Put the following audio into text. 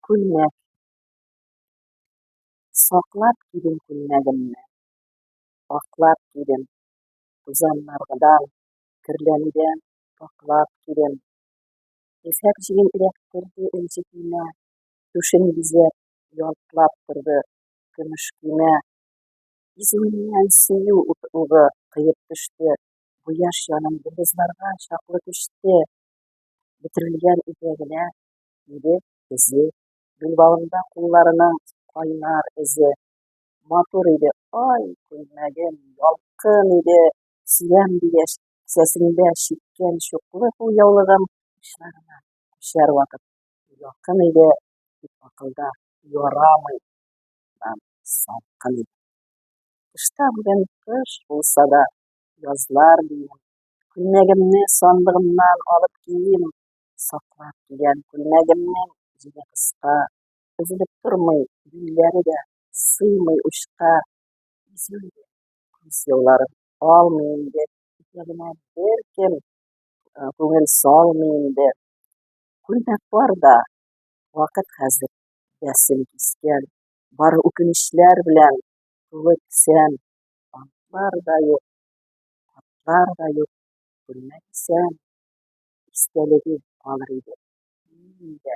Күлмәк. Саклап кидем күлмәгемне. Аклап кидем. Тузаннаргыдан, керләнүдән саклап кидем. Ефәк җиген эләктерде энҗе көймә. Түшен бизәп, ялтлап торды көмеш көймә. Изүеннән сөю утлыгы кыеп төште. Бу яшь җаным йолдызларга чаклы төште. Бөтерелгән итәгенә Ире эзе, билбавында кулларының кайнар эзе. Матур иде, ай, күлмәгем, ялкын иде, сөям дигәч, кесәсендә чиккән чуклы кул яулыгым учларына күчәр вакыт якын иде, дип акылда ярамый. Салкын иде. Кышта бүген кыш булса да, язлар дием. Күлмәгемне сандыгымнан алып кием, саклап кигән күлмәгемнең җиле кыска, өзелеп тормый, юньләре дә сыймый учка. Изүле күз елларын алмый инде, итәгенә беркем күңел салмый инде. Күлмәк бар да, вакыт хәзер дәсен кискән, бары үкенечләр белән тулы кесәм. Бантлар да юк, хатлар да юк, күлмәк исән. истәлеге калыр иде. Мин инде